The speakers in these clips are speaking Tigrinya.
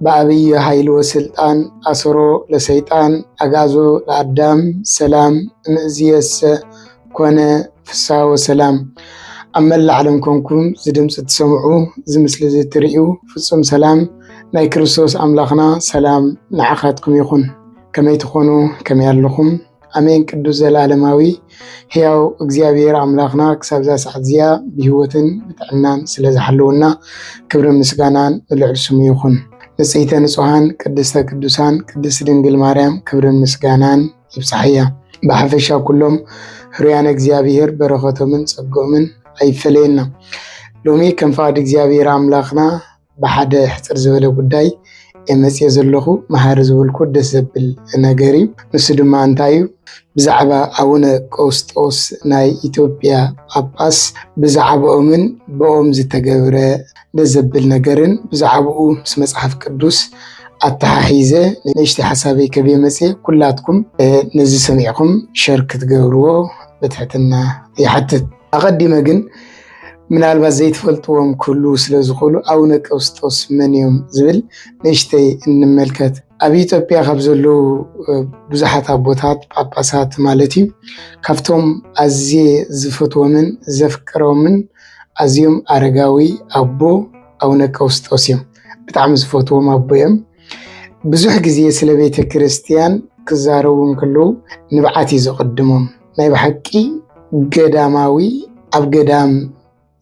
በዐቢይ ሀይል ወስልጣን አሰሮ ለሰይጣን አግአዞ ለአዳም ሰላም እምእዝየሰ ኮነ ፍስሐ ወሰላም። ኣብ መላእ ዓለም ኮንኩም እዚ ድምፂ እትሰምዑ እዚ ምስሊ እዚ እትርእዩ ፍፁም ሰላም ናይ ክርስቶስ ኣምላኽና ሰላም ንዓኻትኩም ይኹን። ከመይ ትኾኑ ከመይ ኣለኹም? ኣሜን ቅዱስ ዘላለማዊ ሕያው እግዚኣብሔር ኣምላኽና ክሳብዛ ሰዓት እዚኣ ብህይወትን ብጥዕናን ስለ ዝሓለወና ክብሪ ምስጋናን ንልዕል ስሙ ይኹን። ንጽሕተ ንጹሓን ቅድስተ ቅዱሳን ቅድስት ድንግል ማርያም ክብርን ምስጋናን ይብጽሓያ። ብሓፈሻ ኩሎም ህሩያነ እግዚኣብሔር በረኸቶምን ጸግኦምን ኣይፈለየና። ሎሚ ከም ፍቓድ እግዚኣብሔር ኣምላኽና ብሓደ ሕጽር ዝበለ ጉዳይ እየ መጺኤ ዘለኹ መሃሪ ዝበልኩ ደስ ዘብል ነገር እዩ። ንሱ ድማ እንታይ እዩ ብዛዕባ ኣቡነ ቀውስጦስ ናይ ኢትዮጵያ ጳጳስ ብዛዕባኦምን ብኦም ዝተገብረ ደስ ዘብል ነገርን ብዛዕባኡ ምስ መጽሓፍ ቅዱስ ኣተሓሒዘ ንእሽተይ ሓሳበይ ከብየ መጽኤ ኩላትኩም ነዚ ሰሚዕኹም ሸር ክትገብርዎ ብትሕትና ይሓትት። ኣቐዲመ ግን ምናልባት ዘይትፈልጥዎም ክህልዉ ስለ ዝኽእሉ ኣቡነ ቀውስጦስ መን እዮም ዝብል ንእሽተይ እንመልከት። ኣብ ኢትዮጵያ ካብ ዘለዉ ብዙሓት ኣቦታት ጳጳሳት ማለት እዩ ካብቶም ኣዝየ ዝፈትዎምን ዘፍቅሮምን ኣዝዮም ኣረጋዊ ኣቦ ኣቡነ ቀውስጦስ እዮም። ብጣዕሚ ዝፈትዎም ኣቦ እዮም። ብዙሕ ግዜ ስለ ቤተ ክርስቲያን ክዛረቡ እንከለዉ ንብዓት እዩ ዘቐድሞም። ናይ ብሓቂ ገዳማዊ ኣብ ገዳም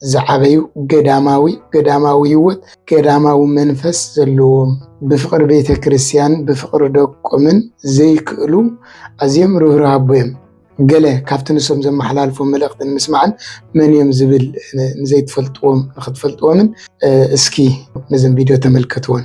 ዝዓበዩ ገዳማዊ ገዳማዊ ህይወት ገዳማዊ መንፈስ ዘለዎም ብፍቅሪ ቤተ ክርስቲያን ብፍቅሪ ደቆምን ዘይክእሉ ኣዝዮም ርህሩህ ኣቦ እዮም። ገለ ካብቲ ንሶም ዘመሓላልፎ መልእኽትን ምስማዕን መን እዮም ዝብል ንዘይትፈልጥዎም ንክትፈልጥዎምን እስኪ ነዘን ቪድዮ ተመልከትዎን።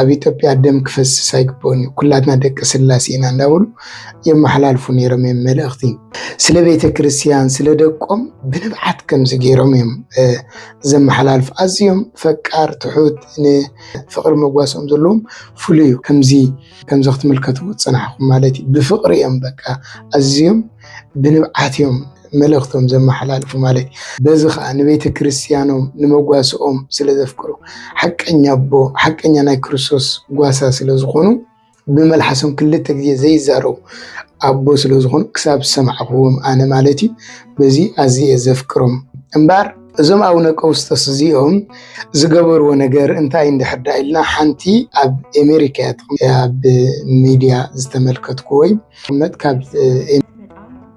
ኣብ ኢትዮጵያ ደም ክፈስስ ኣይግብኦን እዩ፣ ኩላትና ደቂ ስላሴ ኢና እንዳበሉ የመሓላልፉ ነይሮም እዮም መልእኽቲ። ስለ ቤተ ክርስቲያን ስለ ደቆም ብንብዓት ከምዚ ገይሮም እዮም ዘመሓላልፉ። ኣዝዮም ፈቃር ትሑት ንፍቅሪ መጓሶም ዘለዎም ፍሉይ እዩ። ከምዚ ከምዚ ክትምልከቱ ፅናሕኹም ማለት እዩ። ብፍቅሪ እዮም በቃ ኣዝዮም ብንብዓት እዮም መልእኽቶም ዘመሓላልፉ ማለት እዩ። በዚ ኸኣ ንቤተ ክርስቲያኖም ንመጓሰኦም ስለ ዘፍቅሩ ሓቀኛ ኣቦ ሓቀኛ ናይ ክርስቶስ ጓሳ ስለ ዝኾኑ ብመልሓሶም ክልተ ግዜ ዘይዛረቡ ኣቦ ስለ ዝኾኑ ክሳብ ዝሰማዕኹዎም ኣነ ማለት እዩ በዚ ኣዝየ ዘፍቅሮም እምበር እዞም ኣቡነ ቀውስጦስ እዚኦም ዝገበርዎ ነገር እንታይ እንድሕር ዳ ኢልና ሓንቲ ኣብ ኣሜሪካ እያ ኣብ ሚድያ ዝተመልከትኩ ወይ መት ካብ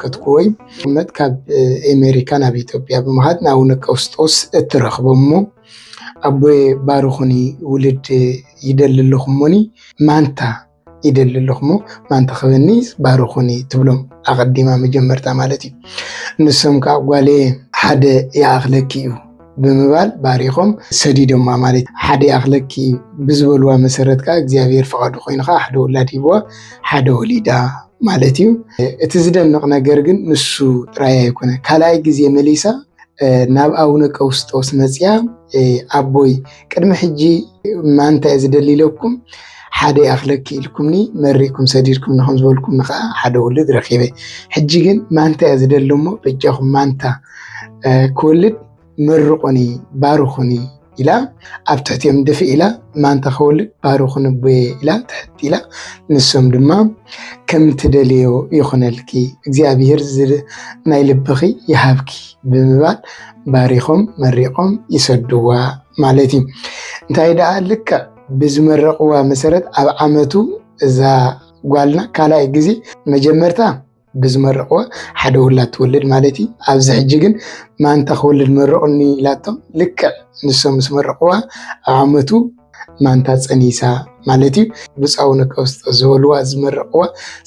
ክትኩወይ ሽመት ካብ ኣሜሪካ ናብ ኢትዮጵያ ብምሃድ ንኣቡነ ቀውስጦስ እትረኽቦሞ ኣቦየ ባርኹኒ ውልድ ይደሊ ኣለኹ እሞኒ ማንታ ይደሊ ኣለኹ እሞ ማንታ ክበኒ ባርኹኒ ትብሎም ኣቐዲማ መጀመርታ ማለት እዩ። ንሶም ከዓ ጓለየ ሓደ ይኣኽለኪ እዩ ብምባል ባሪኾም ሰዲዶማ ማለት እዩ። ሓደ ይኣኽለኪ ብዝበልዋ መሰረት ከዓ እግዚኣብሔር ፈቓዱ ኮይኑ ከዓ ሓደ ወላድ ሂብዋ ሓደ ወሊዳ ማለት እዩ። እቲ ዝደንቕ ነገር ግን ንሱ ጥራይ ኣይኮነ ካልኣይ ግዜ መሊሳ ናብ ኣቡነ ቀውስጦስ መፅያ ኣቦይ ቅድሚ ሕጂ ማንታይ ዝደሊ ኢለኩም ሓደ ይኣኽለኪ ኢልኩምኒ መሪእኩም ሰዲድኩም ንኸም ዝበልኩም ከዓ ሓደ ወልድ ረኪበ ሕጂ ግን ማንታ እየ ዝደሊ እሞ በጃኹም ማንታ ክወልድ መርቑኒ ባርኹኒ ኢላ ኣብ ትሕቲኦም ድፊ ኢላ ማንታ ክወልድ ባርኹኒ ቦየ ኢላ ትሕቲ ኢላ ንሶም ድማ ከም ትደልዮ ይኹነልኪ እግዚኣብሔር ናይ ልብኺ ይሃብኪ ብምባል ባሪኾም መሪቖም ይሰድዋ ማለት እዩ። እንታይ ደኣ ልክዕ ብዝመረቕዋ መሰረት ኣብ ዓመቱ እዛ ጓልና ካልኣይ ግዜ መጀመርታ ብዝመረቕዎ ሓደ ውላድ ትወልድ ማለት እዩ። ኣብዚ ሕጂ ግን ማንታ ክወልድ መረቑኒ ኢላቶም ልክዕ ንሶም ምስ መረቕዋ ኣብ ዓመቱ ማንታ ፀኒሳ ማለት እዩ። ብፃዊ ነቀውስጦ ዝበልዋ ዝመረቕዋ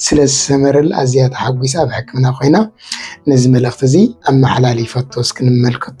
ስለ ዝሰመረላ ኣዝያ ተሓጒሳ ኣብ ሕክምና ኮይና ነዚ መልእኽቲ እዚ ኣመሓላሊፈቶ እስኪ ንመልከቶ።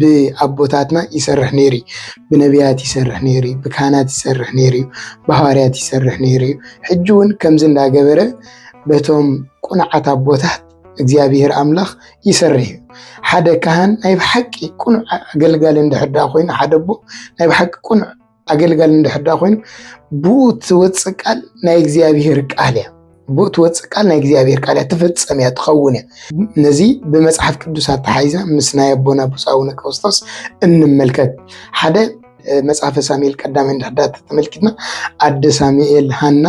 ብኣቦታትና ይሰርሕ ነይሩ እዩ። ብነቢያት ይሰርሕ ነይሩ እዩ። ብካህናት ይሰርሕ ነይሩ እዩ። ብሃዋርያት ይሰርሕ ነይሩ እዩ። ሕጂ እውን ከምዚ እንዳገበረ በቶም ቁኑዓት ኣቦታት እግዚኣብሔር ኣምላኽ ይሰርሕ እዩ። ሓደ ካህን ናይ ብሓቂ ቁኑዕ ኣገልጋሊ እንድሕር ኮይኑ ሓደ ኣቦ ናይ ብሓቂ ቁኑዕ ኣገልጋሊ እንድሕር ድኣ ኮይኑ ብኡ ትወፅእ ቃል ናይ እግዚኣብሄር ቃል እያ ብኡ ትወፅእ ቃል ናይ እግዚኣብሄር ቃል እያ ትፍፀም እያ ትኸውን እያ ነዚ ብመፅሓፍ ቅዱስ ኣተሓይዛ ምስ ናይ ኣቦና ብፁዕ ኣቡነ ክርስቶስ እንመልከት ሓደ መጽሐፈ ሳሙኤል ቀዳማይ እንድሕር ድኣ ተመልኪትና ኣደ ሳሙኤል ሃና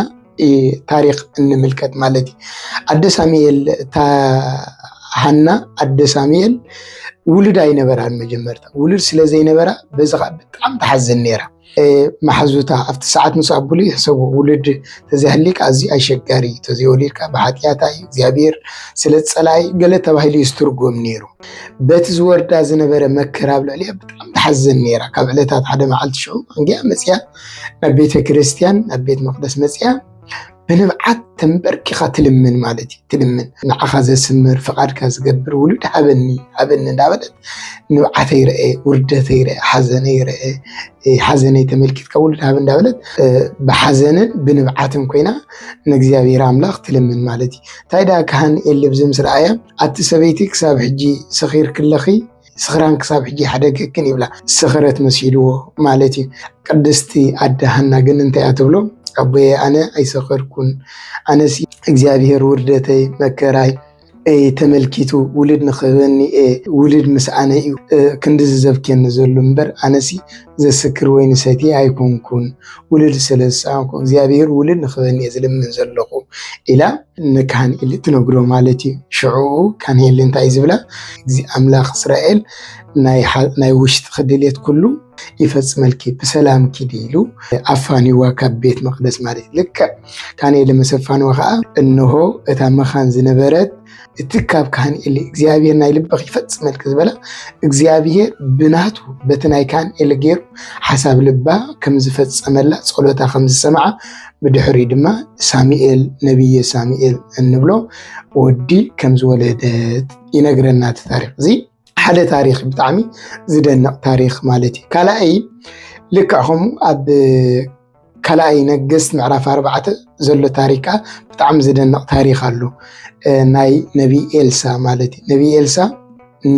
ታሪክ እንምልከት ማለት እዩ ኣደ ሳሙኤል እታ ሃና ኣደ ሳሙኤል ውሉድ ኣይነበራን መጀመርታ ውሉድ ስለ ዘይነበራ በዚ ከዓ ብጣዕሚ ተሓዝን ነይራ መሓዙታ ኣብቲ ሰዓት ምስ ኣብሉ ይሕሰቡ ውሉድ ተዘይሃሊካ ኣዝዩ ኣሸጋሪ እዩ ተዘይወሊድካ ብሓጢኣታ እዩ እግዚኣብሔር ስለ ፀላይ ገለ ተባሂሉ እዩ ዝትርጎም ነይሩ በቲ ዝወርዳ ዝነበረ መከራ ኣብ ልዕሊያ ብጣዕሚ ተሓዝን ነይራ ካብ ዕለታት ሓደ መዓልቲ ሽዑ እንጊያ መፅያ ናብ ቤተ ክርስቲያን ናብ ቤት መቅደስ መፅያ ብንብዓት ተንበርኪኻ ትልምን ማለት እዩ ትልምን ንዓኻ ዘስምር ፍቓድካ ዝገብር ውሉድ ሃበኒ ሃበኒ እንዳበለት ንብዓተ ይርአ ውርደተ ይርአ ሓዘነ ይርአ ሓዘነይ ተመልኪትካ ውሉድ ሃብ እንዳበለት ብሓዘንን ብንብዓትን ኮይና ንእግዚኣብሔር ኣምላኽ ትልምን ማለት እዩ እንታይ ደኣ ካህን ኤሊ ብዚ ምስ ረኣያ ኣቲ ሰበይቲ ክሳብ ሕጂ ሰኺርክለኺ ስኽራን ክሳብ ሕጂ ሓደገክን ይብላ ስኽረት መሲልዎ ማለት እዩ። ቅድስቲ ኣደ ሃና ግን እንታይ እያ ትብሎ? ኣቦየ ኣነ ኣይሰኸርኩን ኣነሲ እግዚኣብሄር ውርደተይ መከራይ ተመልኪቱ ውልድ ንክህበኒ ውልድ ምስኣነ እዩ ክንዲዚ ዘብክየኒ ዘሎ እምበር ኣነሲ ዘስክር ወይኒ ሰትየ ኣይኮንኩን ውሉድ ስለ ዝሰኣንኩ እግዚኣብሄር ውሉድ ንክበኒ እየ ዝልምን ዘለኹ ኢላ ንካንኤል እትነግሮ ማለት እዩ። ሽዕኡ ካንኤል እንታይ እዩ ዝብላ? እዚ ኣምላኽ እስራኤል ናይ ውሽጢ ክድልየት ኩሉ ይፈፅመልኪ ብሰላም ኪዲ ኢሉ ኣፋኒዋ ካብ ቤት መቅደስ ማለት እዩ። ልክዕ ካንኤል መሰፋንዋ ከዓ እነሆ እታ መኻን ዝነበረት እቲ ካብ ካህን ኤሊ እግዚኣብሔር ናይ ልብኺ ይፈጽመልኪ ዝበላ እግዚኣብሔር ብናቱ በቲ ናይ ካህን ኤሊ ገይሩ ሓሳብ ልባ ከም ዝፈጸመላ ጸሎታ ከም ዝሰምዓ ብድሕሪ ድማ ሳሙኤል ነቢየ ሳሙኤል እንብሎ ወዲ ከም ዝወለደት ይነግረና እቲ ታሪክ እዚ ሓደ ታሪክ ብጣዕሚ ዝደንቅ ታሪክ ማለት እዩ ካልኣይ ልክዕ ከምኡ ኣብ ካልኣይ ነገስት ምዕራፍ ኣርባዕተ ዘሎ ታሪክ ከዓ ብጣዕሚ ዝደንቅ ታሪክ ኣሎ ናይ ነቢይ ኤልሳ ማለት እዩ ነቢይ ኤልሳ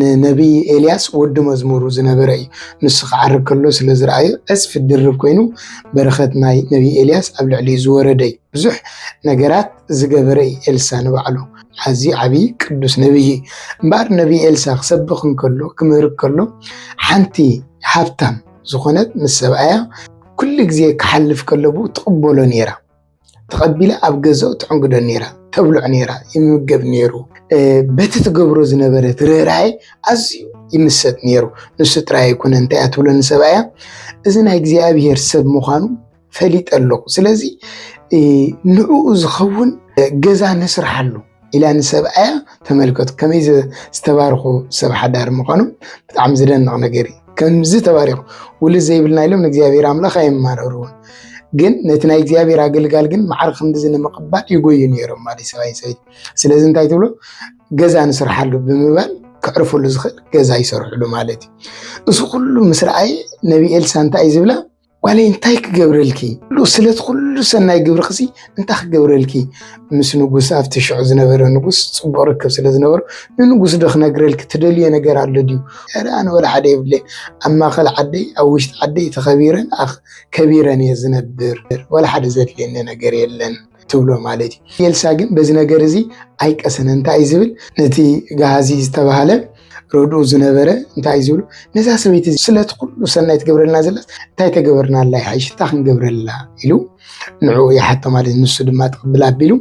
ንነቢይ ኤልያስ ወዲ መዝሙሩ ዝነበረ እዩ ንሱ ክዓርግ ከሎ ስለ ዝረኣዩ ዕፅፊ ድርብ ኮይኑ በረከት ናይ ነቢይ ኤልያስ ኣብ ልዕሊኡ ዝወረደ እዩ ብዙሕ ነገራት ዝገበረ እዩ ኤልሳ ንባዕሉ ኣዝዩ ዓብዪ ቅዱስ ነብዪ እዩ እምበኣር ነብዪ ኤልሳ ክሰብኽ እንከሎ ክምህር ከሎ ሓንቲ ሃብታም ዝኾነት ምስ ሰብኣያ ኩሉ ግዜ ክሓልፍ ከሎ ብኡ ትቕበሎ ነይራ ተቐቢላ ኣብ ገዛኡ ትዕንግዶ ነይራ ተብልዖ ነይራ ይምገብ ነይሩ በቲ ትገብሮ ዝነበረት ርኅራኄ ኣዝዩ ይምሰጥ ነይሩ ንሱ ጥራይ ኣይኮነ እንታይ እያ ትብሎ ንሰብኣያ እዚ ናይ እግዚኣብሔር ሰብ ምዃኑ ፈሊጠ ኣለኹ ስለዚ ንዕኡ ዝኸውን ገዛ ንስርሓሉ ኢላ ንሰብኣያ ተመልከቱ ከመይ ዝተባርኹ ሰብ ሓዳር ምዃኖም ብጣዕሚ ዝደንቕ ነገር እዩ ከምዚ ተባሪኹ ውልድ ዘይብልና ኢሎም ንእግዚኣብሔር ኣምላኽ ኣይማረርዎን ግን ነቲ ናይ እግዚኣብሔር ኣገልጋል ግን መዓር ክንዲዚ ንምቕባል ይጎዩ ነይሮም ማለት ሰብኣይ ሰበይቲ ስለዚ እንታይ ትብሎ ገዛ ንስርሓሉ ብምባል ከዕርፈሉ ዝኽእል ገዛ ይሰርሕሉ ማለት እዩ እዚ ኩሉ ምስ ረኣየ ነቢ ኤልሳ እንታይ እዩ ዝብላ ጓለይ እንታይ ክገብረልኪ ስለቲ ኩሉ ሰናይ ግብርክሲ እንታይ ክገብረልኪ ምስ ንጉስ ኣብቲ ሽዑ ዝነበረ ንጉስ ፅቡቅ ርክብ ስለ ዝነበሩ ንንጉስ ዶ ክነግረልኪ ትደልዮ ነገር ኣሎ ድዩ ኧረ ኣነ ወላ ሓደ የብለይ ኣብ ማእከል ዓደይ ኣብ ውሽጢ ዓደይ ተኸቢረን ከቢረን እየ ዝነብር ወላ ሓደ ዘድልየኒ ነገር የለን ትብሎ ማለት እዩ። ኤልሳ ግን በዚ ነገር እዚ ኣይቀሰነ እንታይ እዩ ዝብል ነቲ ጋሃዚ ዝተባሃለ ረድኡ ዝነበረ እንታይ እዩ ዝብሉ ነዛ ሰበይቲ ስለቲ ኩሉ ሰናይ ትገብረልና ዘላስ እንታይ ተገበርናላ ይሓይሽታ ክንገብረላ ኢሉ ንዕኡ ይሓቶ ማለት ንሱ ድማ ትቅብል ኣቢሉ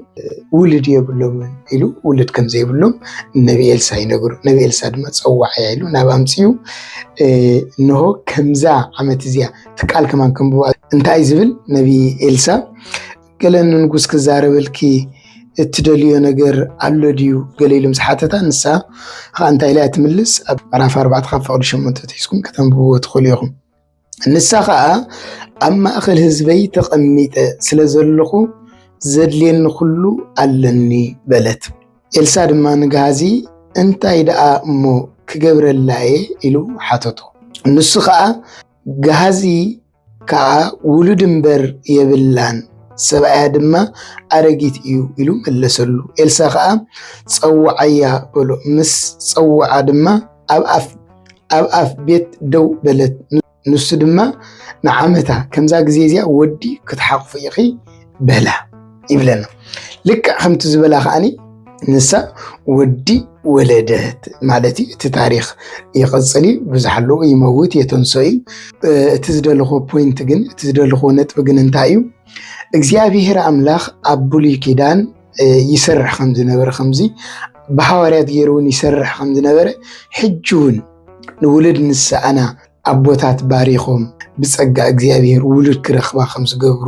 ውልድ የብሎምን ኢሉ ውልድ ከም ዘይብሎም ነቢ ኤልሳ ይነግሩ ነቢ ኤልሳ ድማ ፀዋዕ እያ ኢሉ ናብ ኣምፅኡ እንሆ ከምዛ ዓመት እዚያ ትቃል ከማን ከምብዋ እንታይ ዝብል ነቢ ኤልሳ ገለ ንንጉስ ክዛረበልኪ እትደልዮ ነገር ኣሎ ድዩ ገለ ኢሉ ምስ ሓተታ ንሳ ከዓ እንታይ ኢላ ትምልስ ኣብ ምዕራፍ ኣርባዕተ ካብ ፍቅዲ ሸሞንተ ትሒዝኩም ከተንብብዎ ትኽእሉ ኢኹም ንሳ ከዓ ኣብ ማእኸል ህዝበይ ተቐሚጠ ስለ ዘለኹ ዘድልየኒ ኩሉ ኣለኒ በለት ኤልሳ ድማ ንግሃዚ እንታይ ደኣ እሞ ክገብረላ እየ ኢሉ ሓተቶ ንሱ ከዓ ግሃዚ ከዓ ውሉድ እምበር የብላን፣ ሰብኣያ ድማ ኣረጊት እዩ ኢሉ መለሰሉ። ኤልሳ ከዓ ጸውዓያ በሎ። ምስ ጸውዓ ድማ ኣብ ኣፍ ቤት ደው በለት። ንሱ ድማ ንዓመታ ከምዛ ግዜ እዚኣ ወዲ ክትሓቑፊ ኢኺ፣ በላ ይብለና ልክዕ ከምቲ ዝበላ ከዓኒ ንሳ ወዲ ወለደት ማለት እዩ እቲ ታሪክ ይቅፅል እዩ ብዙሕ ኣለዎ ይመውት የተንሶ እዩ እቲ ዝደለኮ ፖይንት ግን እቲ ዝደለኮ ነጥቢ ግን እንታይ እዩ እግዚኣብሄር ኣምላክ ኣብ ብሉይ ኪዳን ይሰርሕ ከም ዝነበረ ከምዚ ብሃዋርያት ገይሩ እውን ይሰርሕ ከም ዝነበረ ሕጂ እውን ንውሉድ ንስኣና ኣቦታት ባሪኾም ብጸጋ እግዚኣብሔር ውሉድ ክረኽባ ከም ዝገብሩ፣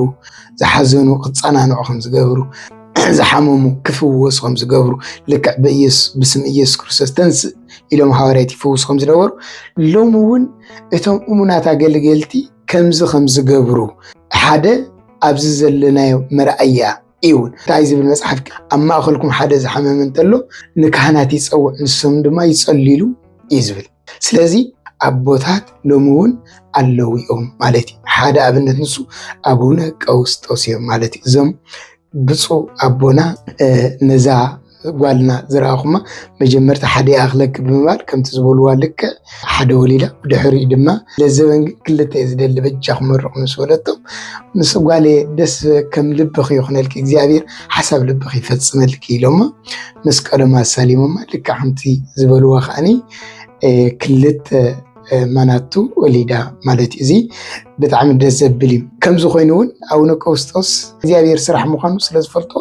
ዝሓዘኑ ክጸናንዑ ከም ዝገብሩ፣ ዝሓመሙ ክፍወሱ ከም ዝገብሩ፣ ልክዕ በኢየሱስ ብስም ኢየሱስ ክርስቶስ ተንስእ ኢሎም ሃዋርያት ይፍውሱ ከም ዝነበሩ፣ ሎሚ እውን እቶም እሙናት ኣገልገልቲ ከምዚ ከም ዝገብሩ ሓደ ኣብዚ ዘለናዮ መርኣያ እዩ እውን እንታይ ዝብል መፅሓፍ ኣብ ማእኸልኩም ሓደ ዝሓመመ እንተሎ ንካህናት ይፀውዕ ንሶም ድማ ይፀልሉ እዩ ዝብል ስለዚ ኣቦታት ሎሚ እውን ኣለዉ እዮም ማለት እዩ ሓደ ኣብነት ንሱ ኣቡነ ቀውስጦስ እዮም ማለት እዩ እዞም ብፁዕ ኣቦና ነዛ ጓልና ዝረኣኹማ መጀመርታ ሓደ ይኣኽለኪ ብምባል ከምቲ ዝበልዋ ልክዕ ሓደ ወሊዳ ብድሕሪኡ ድማ ለዘበን ግን ክልተ እዩ ዝደሊ በጃኹም መርቑ ምስ በለቶም ምስ ጓሌ ደስ ከም ልብኺ ይኹነልኪ እግዚኣብሔር ሓሳብ ልብኺ ይፈፅመልኪ ኢሎሞ መስቀሎም ኣሳሊሞማ ልክዕ ከምቲ ዝበልዋ ከዓኒ ክልተ ማናቱ ወሊዳ ማለት እዩ። እዚ ብጣዕሚ ደስ ዘብል እዩ። ከምዚ ኮይኑ እውን ኣቡነ ቀውስጦስ እግዚኣብሔር ስራሕ ምዃኑ ስለዝፈልጦ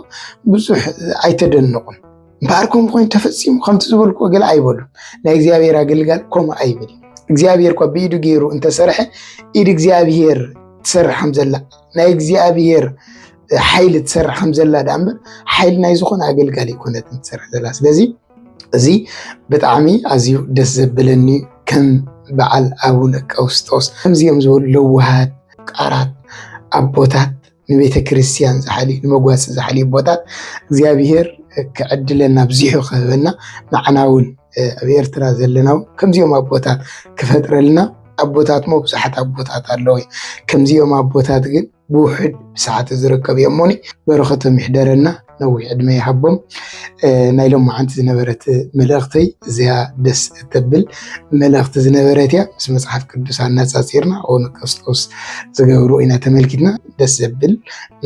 ብዙሕ ኣይተደነቁን። እምበኣር ከምኡ ኮይኑ ተፈፂሙ ከምቲ ዝበልኩ ገለ ኣይበሉ ናይ እግዚኣብሔር ኣገልጋል ከምኡ ኣይብል እግዚኣብሔር እኳ ብኢዱ ገይሩ እንተሰርሐ ኢድ እግዚኣብሔር ትሰርሕ ከምዘላ ናይ እግዚኣብሔር ሓይሊ ትሰርሕ ከምዘላ ዳኣ እምበር ሓይሊ ናይ ዝኾነ ኣገልጋሊ ኣይኮነትን ትሰርሕ ዘላ ስለዚ እዚ ብጣዕሚ ኣዝዩ ደስ ዘብለኒ ከም በዓል ኣቡነ ቀውስጦስ ከምዚኦም ዝበሉ ለዋሃት ቃራት ኣቦታት ንቤተ ክርስቲያን ዝሓልዩ ንመጓሲ ዝሓልዩ ኣቦታት እግዚኣብሄር ክዕድለና ኣብዚሑ ክህበና ንዓና እውን ኣብ ኤርትራ ዘለና እውን ከምዚኦም ኣቦታት ክፈጥረልና ኣቦታት እሞ ብዙሓት ኣቦታት ኣለዉ እዮም ከምዚኦም ኣቦታት ግን ብውሕድ ብሰዓተ ዝርከብ እዮም እሞኒ በረኸቶም ይሕደረና ነዊሕ ዕድመ ይሃቦም ናይ ሎም መዓንቲ ዝነበረት መልእኽተይ እዚያ ደስ እተብል መልእኽቲ ዝነበረት እያ ምስ መፅሓፍ ቅዱስ ኣነፃፂርና ኦነ ክርስቶስ ዝገብሩ ኢና ተመልኪትና ደስ ዘብል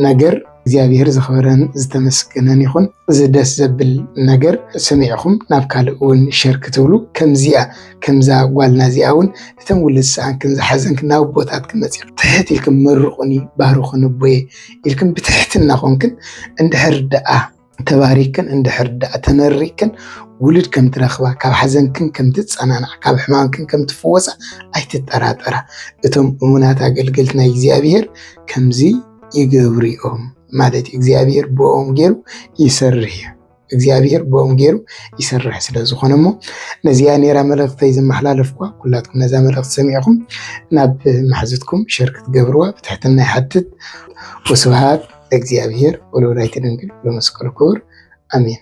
ነገር እግዚኣብሔር ዝኽበረን ዝተመስገነን ይኹን እዚ ደስ ዘብል ነገር ሰሚዕኹም ናብ ካልእ እውን ሸር ክትብሉ ከምዚኣ ከምዛ ጓልና እዚኣ እውን እተን ውሉድ ሰኣንክን ዝሓዘንክን ናብ ኣቦታትክን መፂእክን ትሕት ኢልክን መርቁኒ ባርኹኒ ኣቦየ ኢልክን ብትሕትና ኮንክን እንድሕር ደኣ ተባሪክን እንድሕር ደኣ ተመሪክን ውሉድ ከም ትረኽባ ካብ ሓዘንክን ከም ትጸናናዕ ካብ ሕማምክን ከም ትፍወሳ ኣይትጠራጠራ። እቶም እሙናት ኣገልገልቲ ናይ እግዚኣብሄር ከምዚ ይገብሩ እዮም ማለት እዩ። እግዚኣብሄር ብኦም ገይሩ ይሰርሕ እዩ። እግዚኣብሔር ብኦም ገይሩ ይሰርሕ ስለ ዝኾነ እሞ ነዚኣ ኔራ መልእኽተይ ዝመሓላለፍኳ ኩላትኩም ነዛ መልእኽቲ ሰሚዕኹም ናብ ማሕዙትኩም ሸር ክትገብርዋ ብትሕትና ይሓትት። ወስብሃት ለእግዚኣብሔር ወለወላዲቱ ድንግል ወለመስቀሉ ክቡር ኣሜን።